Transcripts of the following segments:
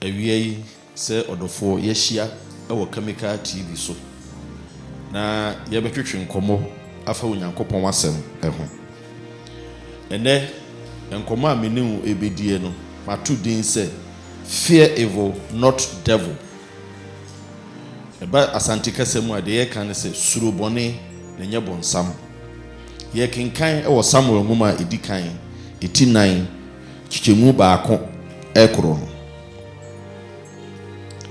Awia yi, sɛ ɔdɔfoɔ, yɛahyia wɔ Kamika TV so na yɛrebɛtwetwe nkɔmmɔ afa Onyankopɔn Asɛm ho. Ɛnnɛ, nkɔmmɔ a me ne wo rebɛdie no, mato din sɛ Fear Evil, Not Devil. Ɛba Asante kasa mu a, deɛ yɛka ne sɛ suro bɔne na nyɛ bɔnsam. Yɛkenkan wɔ Samuel nwoma a ɛdi kan, ɛti nan, kyekyɛmu baako rekoro no.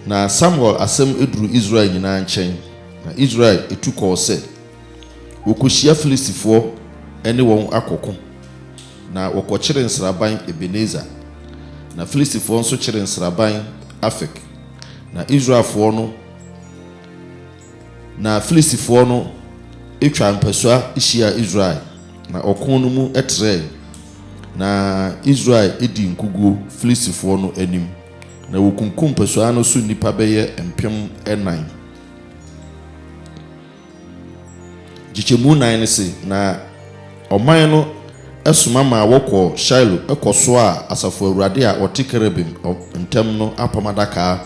Na Samuel asɛm duru Israel nyinaa nkyɛn, na Israel tu kɔɔ sɛ wɔkɔhyia Filistifoɔ ne wɔn akɔko, na wɔkɔkyere nsraban Ebeneser, na Filistifoɔ nso kyere nsraban Afek, na Israelfoɔ no Na Filistifoɔ no twaa mpasua hyiaa Israel, na ɔko no mu trɛɛe, na Israel dii nkoguo Filistifoɔ no anim, na wɔkunkum mpasua no so nnipa bɛyɛ mpem nnan. Nkyekyɛmu nnan no se, Na ɔman no soma maa wɔkɔɔ Shiloh kɔsoaa Asafo Awurade a ɔte kerubim ntam no apam adaka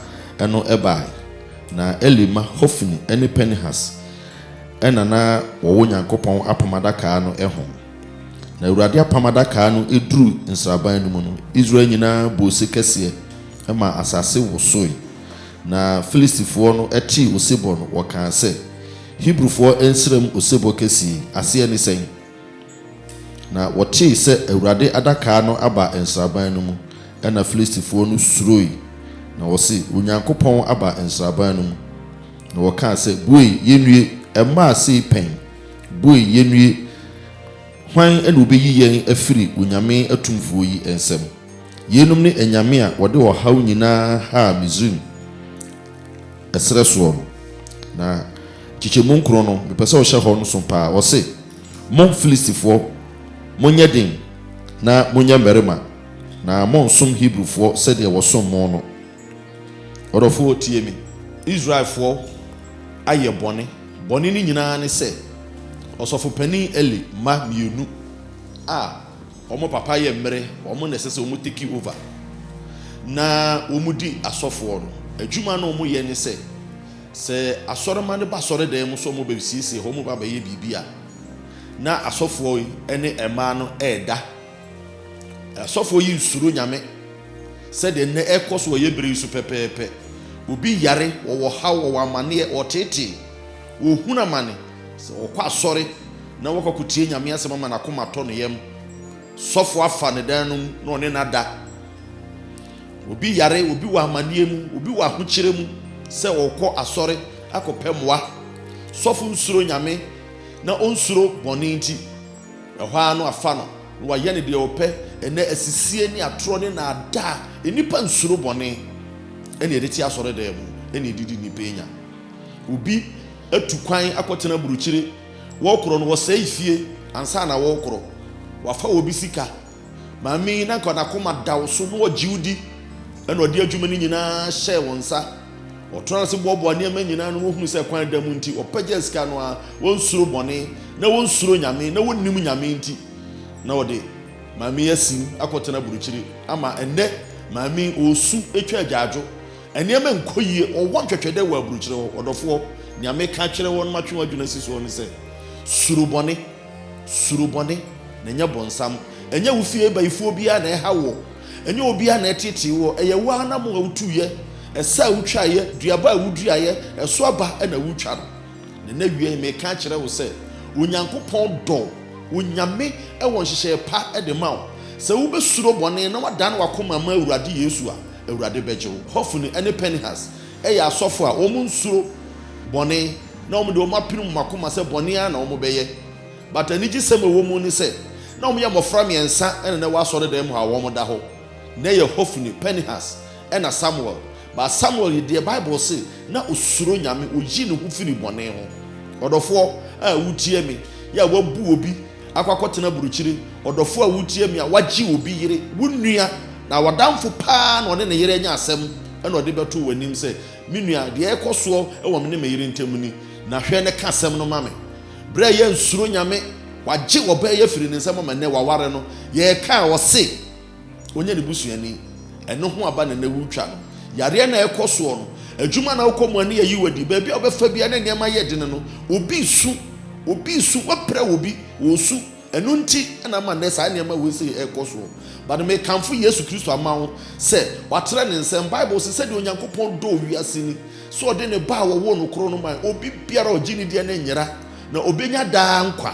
no bae. Na Eli mma Hofni ne Pinehas na na wɔwɔ Nyankopɔn apam adaka no ho. Na Awurade apam adaka no duruu nsraban no mu no, Israel nyinaa bɔɔ ose kɛseɛ maa asase wosoe. Na Filistifoɔ no tee osebɔ no, wɔkaa sɛ, Hebrifoɔ nsram osebɔ kɛseɛ yi, aseɛ ne sɛn? Na wɔtee sɛ Awurade Adaka no aba nsraban no mu. Ɛnna Filistifoɔ no suroe, na wɔse, Onyankopɔn aba nsraban no mu! Na wɔkaa sɛ, Bue, yɛnnue! Ɛmmaa sei pɛn? Bue, yɛnnue! Hwan na ɔbɛyi yɛn afiri onyame atumfoɔ yi nsam? Yeinom ne anyame a wɔde ɔhaw nyinaa haa Misraim. Ɛserɛ soɔ no, na nkyekyɛmu nkron no, mepɛ sɛ wohyɛ hɔ nso pa ara. Ɔse, Mo Filistifoɔ, monyɛ den na monyɛ mmarima, na monnsom Hebrifoɔ sɛdeɛ wɔsom mo no. Ɔdɔfoɔ, tie me. Israelfoɔ ayɛ bɔne. Bɔne no nyina ara ne sɛ, ɔsɔfopanin Eli mma mmienu a Wɔn papa yɛ mmere, wɔn na ɛsɛ sɛ wɔn take over na wɔn di asɔfoɔ no. Adwuma no wɔn yɛ ne sɛ, sɛ asɔrema no ba asɔre dan mu sɛ wɔn bɛ siesie hɔ, wɔn ba bɛyɛ biribi a, na asɔfoɔ yi ne mmaa no ɛɛda. Asɔfoɔ yi nsuro nyame sɛ deɛ nnɛ ɛkɔ so wɔ yɛ bere yi so pɛpɛɛpɛ. Obi yare, wɔwɔ haw, wɔwɔ amaneɛ, wɔtetee, wɔhunu amane. Sɛ wɔkɔ asɔre na wɔkɔkotie Nyame asɛm ama n'akoma atɔ ne yam, sɔfo afa ne dan no mu na ɔne no ada. Obi yare, obi wɔ amanneɛ mu, obi wɔ ahokyerɛ mu sɛ ɔkɔ asɔre akɔpɛ mmoa. Sɔfo nsuro Nyame na onsuro bɔne nti, ɛhɔ ara no afa no na wayɛ no deɛ ɔpɛ. Ɛnɛ asisie ne atorɔ ne naadaa, nnipa nsuro bɔne ɛne ɛde te asɔredan mu ɛne ɛde di nnipa nya. Obi atu kwan akɔtena burukyire. Wɔrekorɔ no, wɔsɛe fie ansa na wɔrekorɔ. Wɔafa obi sika. Maame yi, na anka n'akoma da wo so, na ɔgye wo di, ɛnna ɔde adwuma no nyinaa hyɛɛ wo nsa. Ɔtraa ase boaboa nneɛma nyinaa ano, na ɔhunu sɛ kwan da mu nti, ɔpɛgyaa sika no ara. Wɔnsuro bɔne, na wɔnsuro Nyame, na wɔnnim Nyame nti, na ɔde maame yi asim akɔtena burukyire. Ama ɛnnɛ, maame yi, ɔresu atwa agyaadwo. Nneɛma nkɔ yie, wɔwɔ ntwɛtwɛdɛ wɔ aburukyerɛ hɔ. Ɔdɔfoɔ, nea meka akyerɛ wo na matwe w'adwene asi soɔ ne sɛ, suro bɔne. Suro bɔne, na ɛnyɛ bonsam. Ɛnyɛ wo fie bayifoɔ biara na ɛhaw woɔ. Ɛnyɛ obiara na ɛtetee woɔ. Ɛyɛ wo ara nam a wotuiɛ, ɛsɛ a wotwaeɛ, duaba a woduaeɛ, ɛso aba na woretwa no. Na n'awieeɛ, meka akyerɛ wo sɛ, Onyankopɔn dɔ wo. Onyame wɔ nhyehyɛeɛ pa de ma wo. Sɛ wobɛsuro bɔne na woadane w'akoma ama Awurade Yesu a, Awurade bɛgye wo. Hofni ne Pinehas yɛ asɔfo a wɔnsuro bɔne, na wɔde wɔn apirim wɔn akoma sɛ bɔne ara na wɔbɛyɛ. But anigyesɛm a ɛwɔ mu ne sɛ, na wɔyɛ mmofra mmiɛnsa na na ɛwɔ asɔredan mu hɔ a wɔda hɔ. Na ɛyɛ Hofni, Pinehas, ɛna Samuel. But Samuel yi deɛ, Bible se na ɔsuro Nyame, ɔyii ne ho firii bɔne ho. Ɔdɔfoɔ a wotie me yi a woabu obi akɔ akɔtena burukyiri, ɔdɔfo a wutie me a wagye obi yere, wo nua, na w'adamfo paa na ɔne ne yere anya asɛm na ɔde bɛto w'anim sɛ, Me nua, deɛ ɛrekɔ soɔ wɔ me ne me yere ntam ni, na hwɛ na ka asɛm no ma me. Berɛ a yɛansuro Nyame, wagye ɔbaa yi afiri ne nsam ama nnɛ waware no, yɛkaa ɔse, ɔnyɛ ne busuani. Ɛno ho aba na na ɛretwa no. Yareɛ na ɛrekɔ soɔ no. Adwuma na wokɔ mu a ne yɛyi wadi. Baabi a wobɛfa biara na nneɛma yɛ dene no, obi resu. Obi resu. Woapira obi, ɔresu. Ɛno nti na ama nnɛ saa nneɛma wei sei ɛrekɔ soɔ. But mekamfo Yesu Kristo ama wo sɛ watrɛ ne nsam. Bible se sɛdeɛ Onyankopɔn dɔɔ wiase ni, sɛ ɔde ne Ba a ɔwoo no korɔ no mae. Obi biara a ɔgye ne diɛ no nyera. na obenya daa nkwa.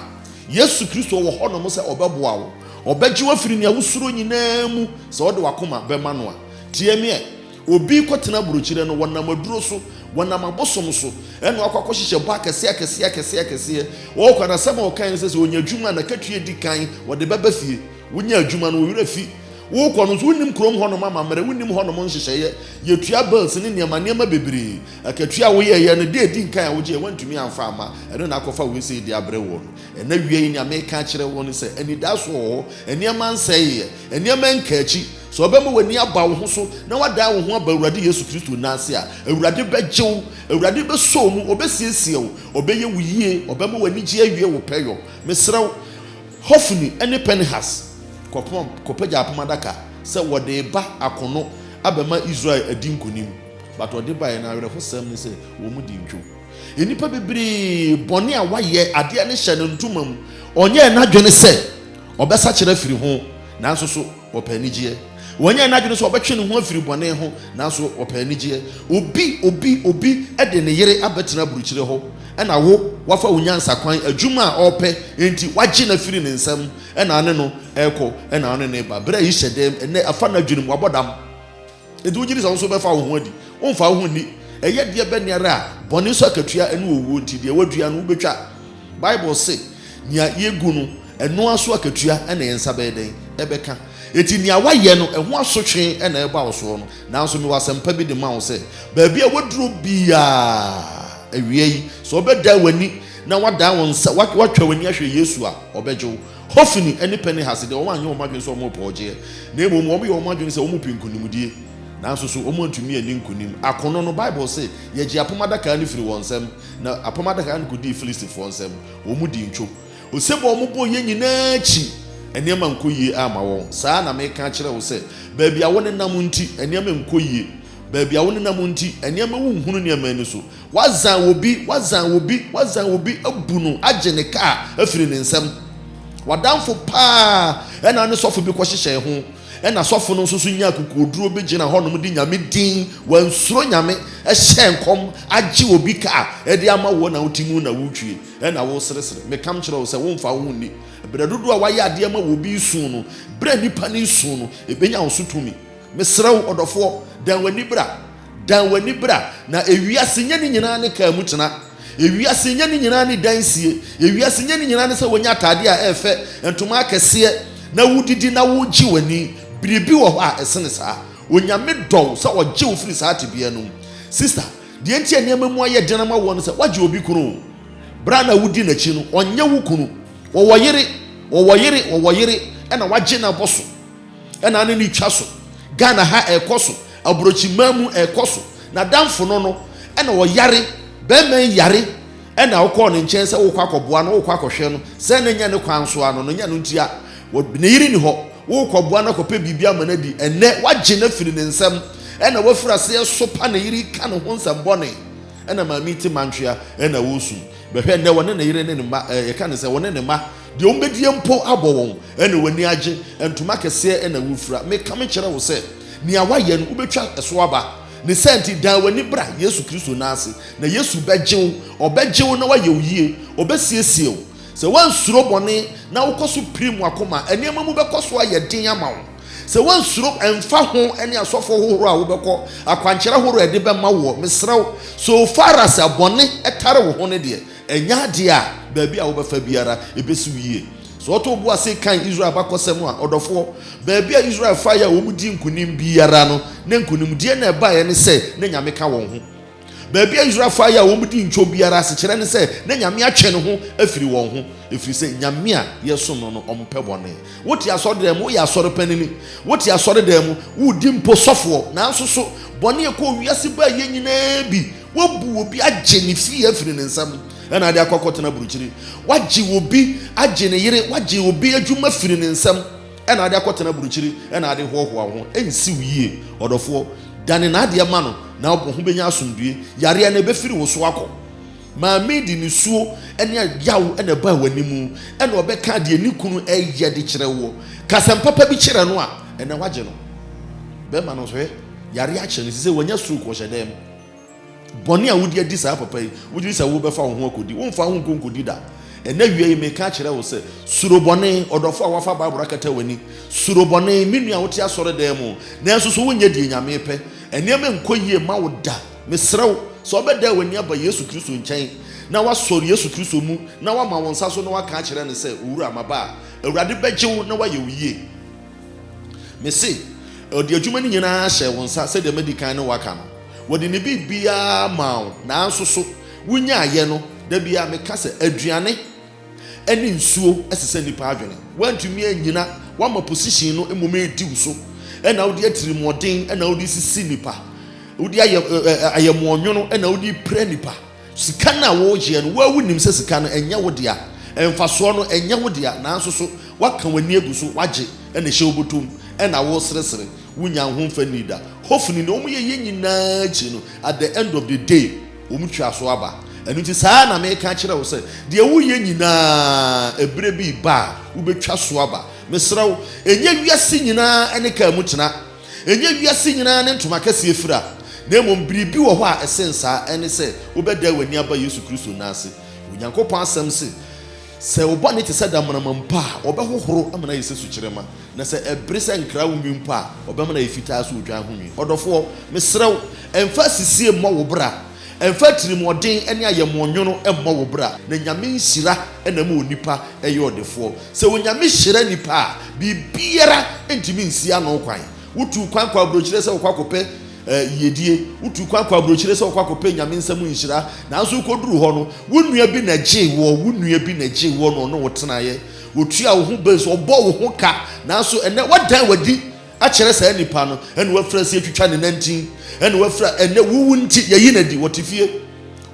Yesu Kristo wɔ hɔnom sɛ ɔbɛboa wo. Ɔbɛgye wo afiri nea wosuro nyinaa mu sɛ wode w'akoma bɛma no a. Tie me ɛ! Obi kɔtena burokyire no, wɔnam aduro so, wɔnam abosom so, ɛna wakɔ akɔhyehyɛ bɔ akɛseɛ akɛseɛ akɛseɛ akɛseɛ. Ɔwɔ kwan asɛm a ɔkae ne sɛ sɛ ɔnya adwuma a n'akatua di kan ɔde bɛba fie. Wonya adwuma no, wo werɛ fi. Wokɔ no nso, wonnim kurom hɔnom amammerɛ, wonnim hɔnom nhyehyɛeɛ. Yɛtua bills ne nneɛma nneɛma bebree. Akatua a woyɛeɛ no, deɛ ɛdi nkan a wogyeeɛ, woantumi amfa amma, ɛno na akɔfa wei sei de abrɛ woɔ no. Ɛnnɛ wia yi, nea mereka akyerɛ wo ne sɛ, anidaso wɔ hɔ, nneɛma nsɛeeɛ, nneɛma nka akyi. Sɛ wobɛma w'ani aba wo ho so na woadan wo ho aba Awurade Yesu Kristo nan ase a, Awurade bɛgye wo, Awurade bɛsɔ wo mu, ɔbɛsiesie wo, ɔbɛyɛ wo yie, ɔbɛma w'anigyeɛ awie wo pɛyɔ. Mesrɛ wo, Hofni ne Pinehas, kɔpagya apam adaka sɛ wɔde reba akono abɛma Israel adi nkonim. But ɔde baeɛ no awerɛhosɛm ne sɛ wɔn di ntwo nnipa bebree bɔne a wayɛ adeɛ no hyɛ no ntoma mu ɔnyɛɛ n'adwene sɛ ɔbɛsakyera firi ho nanso so ɔpɛ anigyeɛ wɔnyɛɛ n'adwene sɛ ɔbɛtwe ne ho afiri bɔne ho nanso ɔpɛ anigyeɛ obi obi obi de ne yere abɛtena aburukyire hɔ ɛna wo wafa wo nyansa kwan adwuma a ɔpɛ nti wagye no afiri ne nsam ɛna ne no ɛkɔ ɛna ne ne ba berɛ a yi hyɛ dɛm ɛnɛ afa n'adwene mu wabɔ dam Enti wogye di sɛ wo nso wobɛfa wo ho adi. Womfa wo ho nni. Ɛyɛ deɛ bɛn ara a, bɔne so akatua ne owuo, enti deɛ woadua no, wobɛtwa. Bible se, Nea yɛgu no, ɛno ara so akatua na yɛn nsa bɛyɛ dɛn? Ɛbɛka. Enti nea woayɛ no, ɛho asotwe na ɛreba wo soɔ no. Nanso mewɔ asɛmpa bi de ma wo sɛ, baabi a woaduro biara, awia yi, sɛ wobɛdan w'ani na woadan wo nsa, woatwa w'ani ahwɛ Yesu a, ɔbɛgye wo. Hofni ne Pinehas de, wɔanyɛ wɔn adwene sɛ wɔrepɛ ɔgyeɛ, na mmom wɔyɛɛ wɔn adwene sɛ wɔrepɛ nkonimdie. Nanso so wɔantumi anni nkonim? Akono no, Bible se, Yɛgyee apam adaka no firii wɔn nsam, na apam adaka no kɔdii Filistifoɔ nsam. Wɔdii ntwo. Osebɔ a wɔbɔeɛ nyinaa akyi, nneɛma ankɔ yie amma wɔn. Saa ara na mereka akyerɛ wo sɛ, baabi a wonenam nti, nneɛma nnkɔ yie. Baabi a wonenam nti, nneɛma wonhunu nneɛma ani so. Wɔadzan obi, wɔadzan obi, wɔadzan obi ebu no agye ne kaar efir ne nsamu. W'adamfo paa na ne sɔfo bi kɔhyehyɛɛ ho, nna sɔfo no so so nyaa kokodur bi gyina hɔnom dze Nyame dzin, wɔannsuro Nyame, hyɛɛ nkɔm agye obi kaar dze ama wo na wotse mu nna worutwie na woreseresere. Mekã kyerɛɛ wo sɛ womfa woho nnyi brɛ dodow a wɔayɛ ade ama wo obi isu no, brɛ nyimpa no isu no, ebenya wo so tumi. Mesrɛ wo, ɔdɔfoɔ, dan w'ani bra. Dan w'ani bra, na ewiase nyɛ ne nyinaa ne kaa mu tena. Ewiase nyɛ ne nyinaa ne dan sie. Ewiase nyɛ ne nyinaa ne sɛ wonya ataadeɛ a ɛyɛ fɛ, ntoma akɛseɛ, na wodidi na wogye w'ani. Biribi wɔ hɔ a ɛsene saa. Onyame dɔ wo sɛ ɔgye wo firi saa tebea no mu. Sista, deɛ nti a nneɛma mu ayɛ den ama woɔ ne sɛ woagye obi kunu. Berɛ a na wodi n'akyi no, ɔnyɛ wo kunu. Ɔwɔ yere, ɔwɔ yere, ɔwɔ yere, ɛna woagye no abɔ so. ɛna ne ne twa so ghana ha ɛkɔ so aburokyi man mu ɛkɔ so na danfo no no ɛna ɔyare bɛrima yi yare ɛna ɔkɔɔ ne nkyɛn sɛ wokɔ akɔboa no wokɔ akɔhwɛ no sɛ ne nya ne kwan so ano no nya no ntia ne yere ni hɔ wokɔboa no akɔpɛ biribi ama no adi ɛnɛ wagye no afiri ne nsam ɛna wafiri aseɛ sopa ne yere ka ne ho nsɛm bɔne ɛna maame te mantwea ɛna wosum bɛhwɛ ɛnɛ wɔne ne yere ne ne mma ɛka ne sɛ wɔne ne mma Deɛ wɔbɛdie mpo abɔ wɔn, ɛna wɔn ani agye, ntoma kɛseɛ na wɔfira. Mekame kyerɛ wo sɛ, nea woayɛ no, wobɛtwa so aba. Ne saa nti, dan w'ani bra Yesu Kristo nan ase, na Yesu bɛgye wo. Ɔbɛgye wo na wayɛ wo yie. Ɔbɛsiesie wo. Sɛ woansuro bɔne, na wokɔ so pirim w'akoma a, nneɛma mu bɛkɔ so ayɛ den ama wo. Sɛ woansuro, ɛmfa ho ne asɔfoɔ hohoro a wobɛkɔ, akwankyerɛ horoɔ a ɛde bɛma woɔ, mesrɛ wo, so far as bɔne tare wo ho no deɛ, Ɛnyɛ ade a baabi a wobɛfa biara ebesi wo yie. Sɛ ɔtɔ obu ase kan Israel abakɔsɛm a, ɔdɔfoɔ, baabi a Israel faeɛ a wɔdii nkonim biara no, na nkonimdie na ɛbaeɛ ne sɛ na Nyame ka wɔn ho. Baabi a Israel faeɛ a wɔdii ntwom biara asekyerɛ ne sɛ na Nyame atwe ne ho afiri wɔn ho, ɛfiri sɛ Nyame a yɛsom no no, ɔmpɛ bɔne. Wote asɔredan mu, woyɛ asɔre panini. Wote asɔredan mu, woredi mpo sɔfoɔ. Nanso so bɔne a ɛkɔɔ wiase baa yɛn nyinaa bi? Woabu obi agye ne fie afiri ne nsam na ade akɔ akɔtena burukyiri. Woagye obi agye ne yere, woagye obi adwuma afiri ne nsam na ade akɔtena burukyiri na ade hoahoa ho. Ɛnsi wo yie. Ɔdɔfoɔ, dane n'adeɛ ma no na wo ho bɛnya asomdwoeɛ. Yareɛ no, ɛbɛfiri wo so akɔ. Maame de nisuo ne yaw na ɛbaa w'anim na ɔbɛka deɛ ne kunu reyɛ de kyerɛ woɔ. Ka asɛm papa bi kyerɛ no a, ɛnna woagye no. Bɛrima no nso, hwɛ, yareɛ akyɛ no, ɛsɛ sɛ wanya stroke, ɔhyɛ dɛm. Bɔne a wodi adi saa papa yi, wudwene sɛ wobɛfa wo ho akodi? Womfa wo ho nkɔ nkodi da. Ɛnnɛ awia yi, meka akyerɛ wo sɛ, suro bɔne. Ɔdɔfo a woafa Bible akata w'ani, suro bɔne. Me nua a wote asɔredan mu, nanso so wonyɛ deɛ Nyame repɛ? Nneɛma nkɔ yie mma wo da. Mesrɛ wo sɛ wobɛdan w'ani aba Yesu Kristo nkyɛn, na woasɔre Yesu Kristo mu, na woama wo nsa so na woaka akyerɛ no sɛ, Owura, maba a, Awurade bɛgye wo na wayɛ wo yie. Mise, Ɔde adwuma no nyinaa hyɛɛ wo nsa sɛdeɛ madi kan ne wo aka no. Wɔde ne biribiara maa wo, nanso so wonyaeɛ no? Da biara meka sɛ aduane ne nsuo sesa nnipa adwene. Woantumi annyina, woama position no mmom redi wo so na wode atirimuɔden na wode resisi nnipa, wode ayɛ ayɛmmoɔnwono na wode repira nnipa. Sika no a woregyeɛ no, wo ara wonim sɛ sika no, ɛnyɛ wo dea. Mfasoɔ no, ɛnyɛ wo dea. Nanso so woaka w'ani agu so, woagye, na ɛhyɛ wo bɔtɔ mu, ɛnna woreseresere? Wonnya ho mfa nnii da. Hofni, Nea wɔyɛeɛ nyinaa akyi no, at the end of the day, wɔtwaa so aba. Ɛno nti, saa ara na mereka akyerɛ wo sɛ, deɛ woreyɛ nyinaa, ɛberɛ bi reba a, wobɛtwa so aba. Mesrɛ wo, nyɛ wiase nyinaa ne kar mu tena. Ɛnyɛ wiase nyinaa ne ntoma kɛseɛ fira, na mmom biribi wɔ hɔ a ɛsen saa, ɛne sɛ wobɛdan w'ani aba Yesu Kristo nan ase. Onyankopɔn Asɛm se, Sɛ wo bɔne te sɛ damena-ma mpo a, ɔbɛhohoro ama no ayɛ sɛ sukyerɛma, na sɛ ɛbere sɛ nkra wo nwi mpo a, ɔbɛma no ayɛ fitaa sɛ odwan ho nwi. Ɔdɔfoɔ, mesrɛ wo, mfa asisie mmɔ wo bra. Ɛmfa atirimuɔden ne ayɛmmoɔ nwono mmɔ wo bra, na Nyame nhyira na ɛma onipa yɛ ɔdefoɔ. Sɛ Onyame hyira nnipa a, biribiara ntumi nsi ano kwan. Wotuu kwan kɔɔ abrokyire sɛ wokɔ akɔpɛ yiedie, wotuu kwan kɔɔ abrokyire sɛ wokɔ akɔpɛ Nyame nsa mu nhyira, nanso wokɔduruu hɔ no, wo nua bi na gyee woɔ, wo nua bi na gyee woɔ na ɔne wo tenaeɛ, ɔtuaa wo ho bɛs, ɔbɔɔ wo ho ka, nanso ɛnnɛ woadan w'adi. akyerɛ saa nipa no, ɛna wafira sɛ yɛtwitwa ne nantin, ɛna wafira ɛnɛ wuwu nti yɛyi no adi, wɔte fie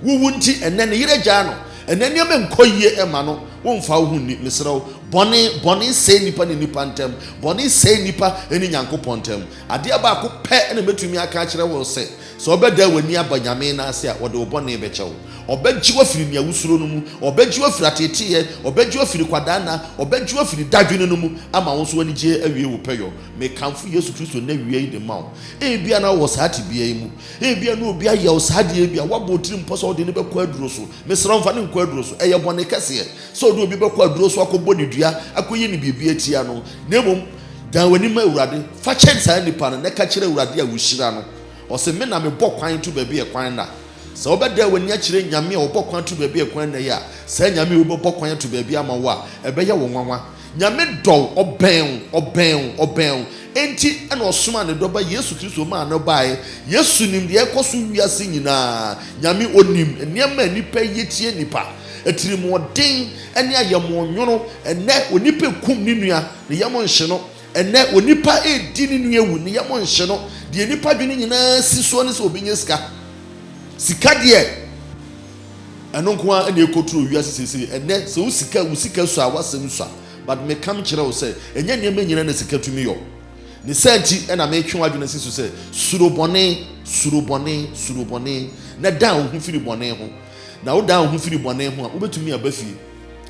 wuwu nti ɛnɛ ne yere gyaa no, ɛnɛ nneɛma nkɔ yie ɛma no, womfa wo ho nni, mesrɛ wo, bɔne, bɔne sɛe nipa ne nipa ntam, bɔne sɛe nipa ne Nyankopɔn ntam, adeɛ baako pɛ na mɛtumi aka akyerɛ wo sɛ, Sɛ wobɛdan w'ani aba Nyame no ase a, Ɔde wo bɔne bɛkyɛ wo. Ɔbɛgye wo afiri nea wusuro no mu. Ɔbɛgye wo afiri ateeteeɛ. Ɔbɛgye wo afiri kwadaa nna. Ɔbɛgye wo afiri dadwene no mu ama wo nso w'anigyeɛ awie wo pɛyɔ. Mekamfo Yesu Kristo nnawia yi de ma wo. Ebia na wowɔ saa tebea yi mu. Ebia na obi ayɛ wo saa adeɛ bi a woabɔ wo tirim pɔ sɛ wode no bɛkɔ aduro so. Mesrɛ wo, mfa no nkɔ aduro so. Ɛyɛ bɔne kɛseɛ sɛ wode obi bɛkɔ aduro so akɔbɔ no dua, akɔyi no biribi atia no. Na mmom, dan w'ani ma Awurade. Fa kyɛ saa nipa no na ka kyerɛ Awurade a wohyira no. Ɔse me na mebɔ kwan to baabi a ɛkwan nna. Sɛ wobɛdan w'ani akyerɛ Nyame a ɔbɔ kwan to baabi a ɛkwan nna yi a, saa Nyame yi wobɛbɔ kwan ato baabi ama wo a, ɛbɛyɛ wo nwanwa. Nyame dɔ wo, ɔbɛn wo, ɔbɛn wo, ɔbɛn wo, enti na ɔsomaa ne Dɔba Yesu Kristo maa no baeɛ. Yesu nim deɛ ɛrekɔ so wiase nyinaa. Nyame ɔnim nneɛma a nnipa yɛ tia nnipa, atirimuɔden ne ayɛmmoɔnwono. Ɛnnɛ onipa kum ne nua, ne yam nhye no. Ɛnnɛ, onipa redi ne nua awu, ne yam nhye no. Deɛ nnipa dwene nyinaa si soɔ ne sɛ wɔbɛnya sika. Sika deɛ, ɛno nko ara na ɛkɔturo wiase seesei. Ɛnnɛ, sɛ wo sika, wo sika sua a, w'asɛm sua. But meka mekyerɛ wo sɛ, ɛnyɛ nneɛma nyinaa na sika tumi yɔ. Ne saa nti na metwe w'adwene si so sɛ, suro bɔne, suro bɔne, suro bɔne, na dan wo ho firi bɔne ho. Na wodan wo ho firi bɔne ho a, wobɛtumi aba fie.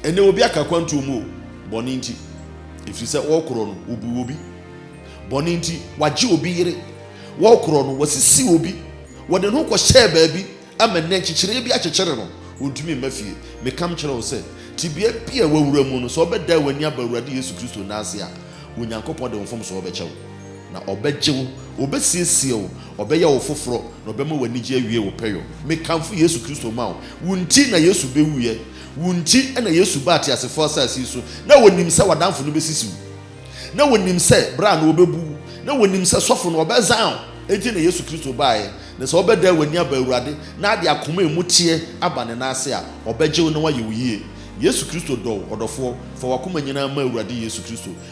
Ɛnnɛ, obi aka akwantuo mu o, bɔne nti, ɛfiri sɛ wɔrekorɔ no, wɔbu obi. Bɔne nti, wagye obi yere, wɔrekorɔ no, wasisi obi, wɔde ne ho kɔhyɛɛ baabi ama nnɛ nkyekyereɛ bi akyekyere no, ɔntumi mma fie. Meka mekyerɛ wo sɛ, tebea bi a wawura mu no, sɛ wobɛdan w'ani aba Awurade Yesu Kristo nan ase a, Onyankopɔn de wo mfomsoɔ bɛkyɛ wo. Na ɔbɛgye wo, ɔbɛsiesie wo, ɔbɛyɛ wo foforɔ, na ɔbɛma w'anigye awie wo pɛyɔ. Mekamfo Yesu Kristo ma wo. Wo nti na Yesu bɛwuiɛ. Wo nti na Yesu baa teasefoɔ asase yi so. Na ɔnim sɛ w'adamfo no bɛsisi wo. Na ɔnim sɛ bra no ɔbɛbu wo. Na ɔnim sɛ sɔfo no ɔbɛzan wo. Enti na Yesu Kristo baaɛ. Na sɛ wobɛdan w'ani aba Awurade na ade akoma a ɛmu teɛ aba Ne nan ase a, ɔbɛgye wo na wayɛ wo yie. Yesu Kristo dɔ wo, ɔdɔfoɔ. Fa w'akoma nyinaa ma Awurade Yesu Kristo.